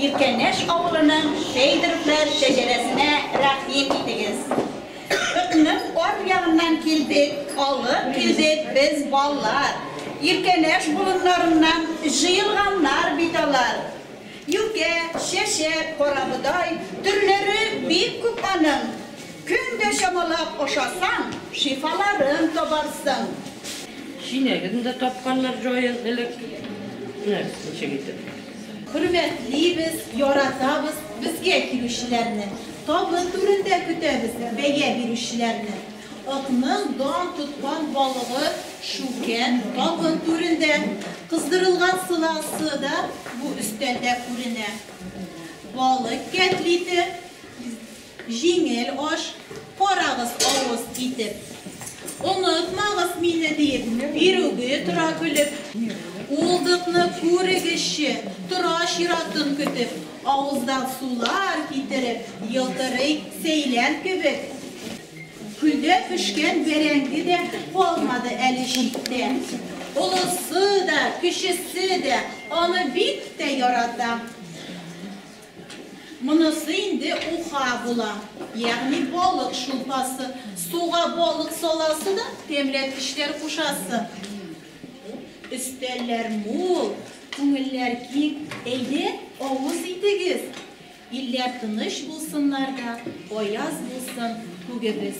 Иркәнәш авылының Сәйдеровлар шәҗәрәсенә рәхим итегез. Кытның ар ягыннан килдек, алып килдек без баллар. Иркәнәш болыннарыннан җыелганнар бит алар. Юкә, чәчәк, карабодай, төрләре бик күп аның. Көн дә чамалап ашасаң, шифаларын табарсың. Чиләген дә тапканнар җаен элек. Менә ничек итеп. Хөрмәтлибез, яратабыз безгә килүчеләрне, табын түрендә көтәбез бәя бирүчеләрне. Атның дан тоткан балыгы шүкән табын түрендә, кыздырылган сыласы да бу өстәлдә күренә. Балык кәтлите. Җиңел аш, карагыз авыз итеп. Онытмагыз мине диеп, бирүге тора көлеп. Улдыкны күрегезче, тора чиратын көтеп. Авыздан сулар китереп, елтырый сәйлән кебек. Көлдә пешкән бәрәңге дә калмады әле читтә. Олысы да, кечесе дә аны бик тә ярата. Монысы инде уха була, ягъни балык шулпасы. Суга балык саласы да, тәмләткечләр кушасы. Өстәлләр мул, күңелләр киң, әйдә, авыз итегез. Илләр тыныч булсыннар да, аяз булсын күгебез.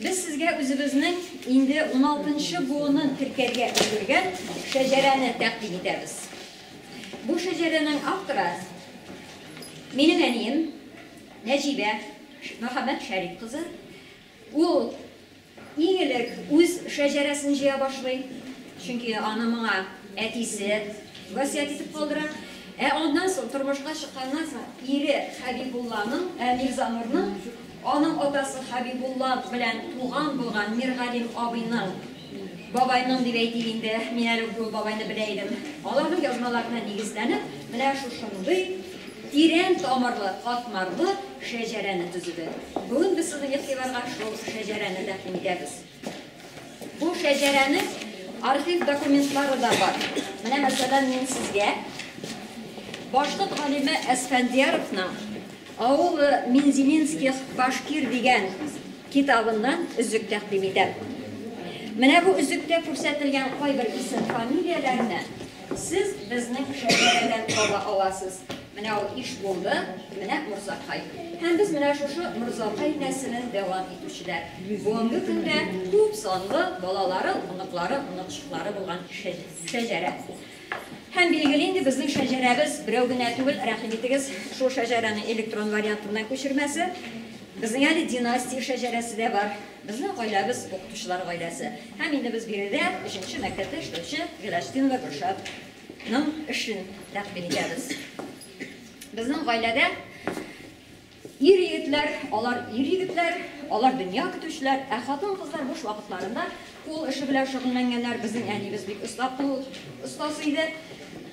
Без сезгә үзебезнең инде уналтынчы буынын теркәргә өлгергән шәҗәрәне тәкъдим итәбез. Бу шәҗәрәнең авторы, минем әнием Нәҗибә Мөхәммәтшәриф кызы. Ул иң элек үз шәҗәрәсен җыя башлый, чөнки аны моңа әтисе васыять итеп калдыра. Ә аннан соң, тормышка чыкканнан соң, ире Хәбибулланың, Мирзанурның, Аның атасы Хәбибулла белән туган булган Миргалим абыйның, бабайның дип әйтик инде, мин әле ук ул бабайны белә идем, аларның язмаларына нигезләнеп, менә шушындый тирән тамырлы, катмарлы шәҗәрәне төзеде. Бүген без сезнең игътибарга шул шәҗәрәне тәкъдим итәбез. Бу шәҗәрәнең архив документлары да бар. Менә, мәсәлән, мин сезгә башкорт галиме Әсфәндияровның Аулы Минзиминских башкир дигән китабыннан өзек тәкъдим итәм. Менә бу өзектә күрсәтелгән кайбер исем-фамилияләрне сез безнең шәҗәрәдән таба аласыз. Менә ул иш булды, менә Морзакай. Һәм без менә шушы Морзакай нәселен дәвам итүчеләр. Бүгенге көндә күп санлы балалары, оныклары, оныкчыклары булган шәҗәрә. Һәм билгеле инде безнең шәҗәрәбез берәү генә түгел, рәхим итегез, шул шәҗәрәнең электрон вариантыннан күчермәсе. Безнең әле династия шәҗәрәсе дә бар. Безнең гаиләбез укытучылар гаиләсе. Һәм инде без биредә өченче мәктәптә эшләүче Гөләстинова Гөлшат Ның эшен тәкъдим итәбез. Безнең гаиләдә ир-егетләр, алар ир-егетләр, алар дөнья көтүчеләр, ә хатын-кызлар буш вакытларында кул эше белән шөгыльләнгәннәр. Безнең әниебез бик оста кул остасы иде.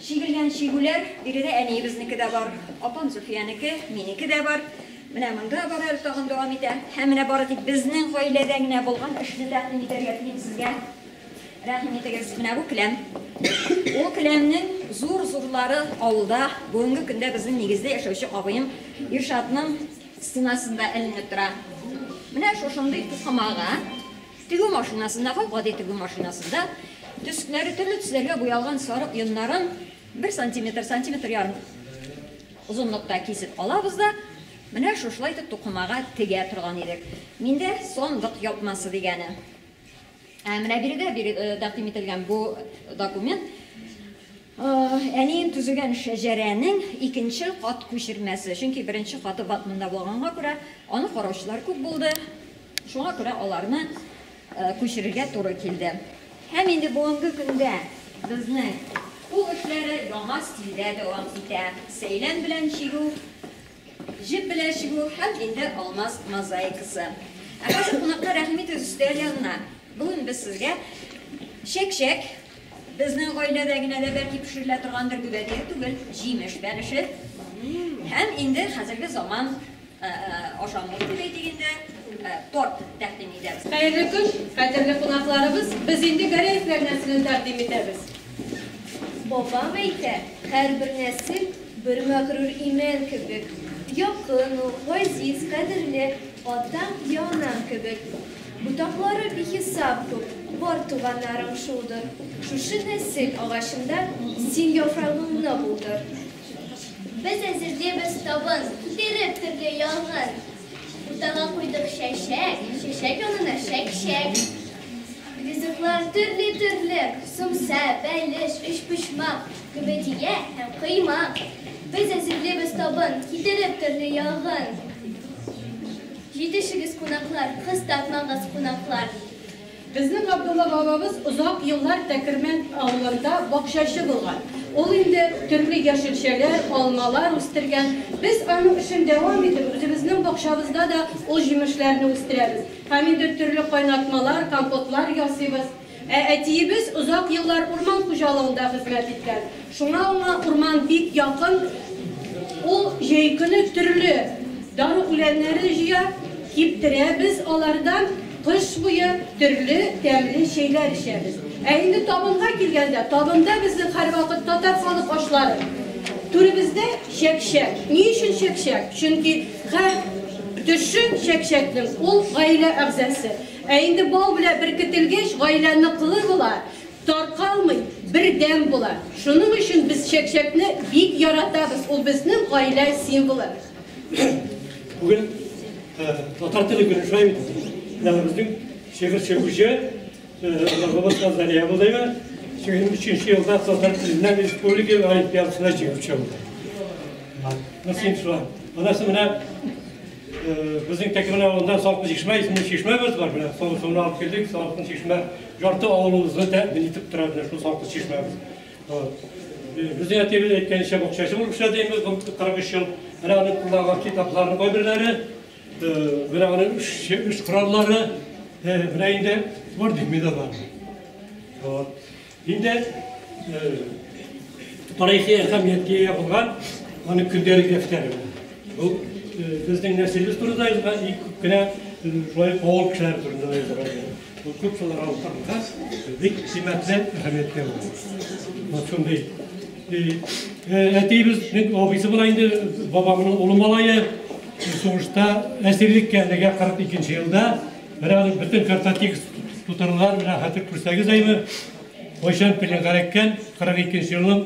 Чигелгән чигүләр, биредә әниебезнеке дә бар, апам Зөлфиянеке, минеке дә бар. Менә монда бар әле тагын дәвам итә. Һәм менә бары тик безнең гаиләдә генә булган эшне тәкъдим итәргә телим сезгә. Рәхим итегез, менә бу келәм. Ул келәмнең зур-зурлары авылда, бүгенге көндә безнең нигездә яшәүче абыем Иршатның стенасында эленеп тора. Менә шушындый тукымага, тегү машинасында, гап-гади тегү машинасында төскләре төрле төсләргә буялган сарык йоннарын бер сантиметр, сантиметр ярым озынлыкта кисеп алабыз да, менә шушылай итеп тукымага тегә торган идек. Миндә сандык япмасы дигәне. Ә менә биредә тәкъдим ителгән бу документ әнием төзегән шәҗәрәнең икенче кат күчермәсе. Чөнки беренче каты батмунда булганга күрә, аны караучылар күп булды. Шуңа күрә аларны күчерергә туры килде. Һәм инде бүгенге көндә безнең кул эшләре яңа стильдә дәвам итә. Сәйлән белән чигү Җеп белән чигү һәм инде алмаз мозаикасы. Ә хәзер кунакка рәхим итегез өстәл янына. Бүген без сезгә чәкчәк, безнең гаиләдә генә дә бәлки пешерелә торгандыр, гөбәдәе түгел, җимеш бәлеше һәм инде хәзерге заман ашамлык дип әйтик инде, торт тәкъдим итәбез. Хәерле көн, кадерле кунакларыбыз! Без инде Гәрәевләр нәселен тәкъдим итәбез. Бабам әйтә, һәрбер нәсел бер мәгърур имән кебек, якын ук, газиз, кадерле атаң я анаң кебек. Ботаклары бихисап күп, бар туганнарың шулдыр. Шушы нәсел агачында син яфрагыңны булдыр. Без әзерлибез табын, биреп төрле ялгын. Уртага куйдык чәчәк, чәчәк янына шәкшәк. Ризыклар төрле-төрле, сумса, бәлеш, өчпочмак, көбедия һәм кыймак. Без әзерлибез табын, китереп төрле ягын. Җитешегез, кунаклар, кыстатмагыз кунаклар. Безнең Габдулла бабабыз озак еллар Тәкермән авылында бакчачы булган. Ул инде төрле яшелчәләр, алмалар үстергән. Без аның эшен дәвам итеп, үзебезнең бакчабызда да ул җимешләрне үстерәбез һәм инде төрле кайнатмалар, компотлар ясыйбыз. Ә әтиебез озак еллар урман хуҗалыгында хезмәт иткән. Шуңа уңа урман бик якын, ул җәй көне төрле дару үләннәре җыя, киптерә, без алардан кыш буе төрле тәмле чәйләр эчәбез. Ә инде табынга килгәндә, табында безнең һәрвакыт татар халык ашлары. Түребездә чәкчәк. Ни өчен чәкчәк? Чөнки һәр төше чәкчәкнең, ул гаилә әгъзасы. Ә инде бал белән беркетелгәч, гаилә ныклы була. Таркалмый, бердәм була. Шуның өчен без чәкчәкне бик яратабыз, ул безнең гаилә символы. Бүген татар теле көне шулай бит. Менә безнең шигырь сөюче Логобовка Зария Булдыева 2003 елда татар теленнән республика олимпиадасына җиңеп чыгылды. Насыйм шулай. Анасы менә безнең Тәкемән авылында Салкын чишмә исемле чишмәбез бар. Менә соңгы алып килдек, Салкын чишмә Ярты авылыбызны тәэмин итеп тора менә шул салкын чишмәбез. Без әйтегез әйткәнчә бакчачы булып эшләдебез, 43 ел. Менә аның кулдагы китапларның кайберләре, менә аның үз кораллары, менә инде бар бит медаллар. Вот. Инде тарихи әһәмияткә ия булган аның көндәлек дәфтәре. Бу безнең нәселебез турында язган, и күп кенә шулай авыл кешеләре турында язган. Купюраларга утырткач, бик кыйммәтле әһәмияткә әверелде. Вот шундый. Әтиебез, мин абыйсы була инде, бабамның улы малае, сугышта әсирлеккә элегә 42 елда. Менә аның бөтен картотекс тутырылган, менә хәтер күрсәгез әйбер. Кайчан пленгә эләккән, 42 елның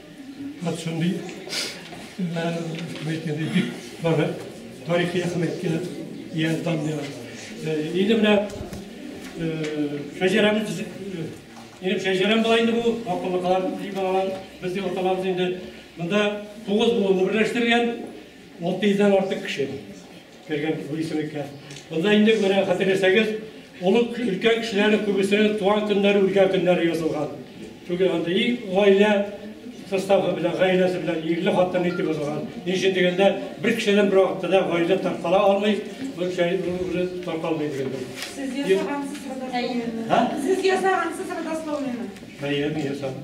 Хат шундый, әйткәндәй, бик бары тарихи әһәмияткә ия данлы. Инде менә шәҗәрәбез төзек. Инде шәҗәрәм бар инде бу, акыллыкалар дип алган, безнең аталарыбыз инде монда тугыз буынны берләштергән, 600 дән артык кеше. Кергән бу исемлеккә. Монда инде менә хәтерләсәгез, олуг өлкән кешеләрнең күбесе туган көннәре, үлгән көннәре язылган. Түгел анда и гаилә составы белән, гаиләсе белән ирле хатынлы итеп язылган. Ни өчен дигәндә, бер кешедән бер вакытта да гаилә таркала алмый, бер кеше үзе таркалмый дигәндә. Сез ясагансыз родословныйны? Сез ясагансыз родословныйны? Әйе, мин ясадым.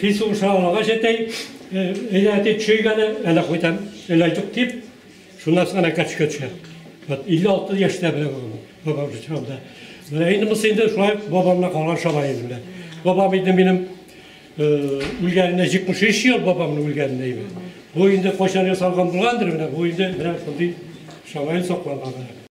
Фису уша алагач әтәй, әйдә әтәй төшәйк әле, әле кайтам, әле айтык дип, шуннан соң әкә төшкә төшә. Вот 56 яшьтә белә бабам. Бабам шул чагында. Менә инде мысы инде шулай бабамна калган шалай инде белә. Бабам инде минем үлгәненә 73 ел бабамның үлгәненә инде. Бу инде кайчан ясалган булгандыр менә, бу инде менә шундый шалай сакланган.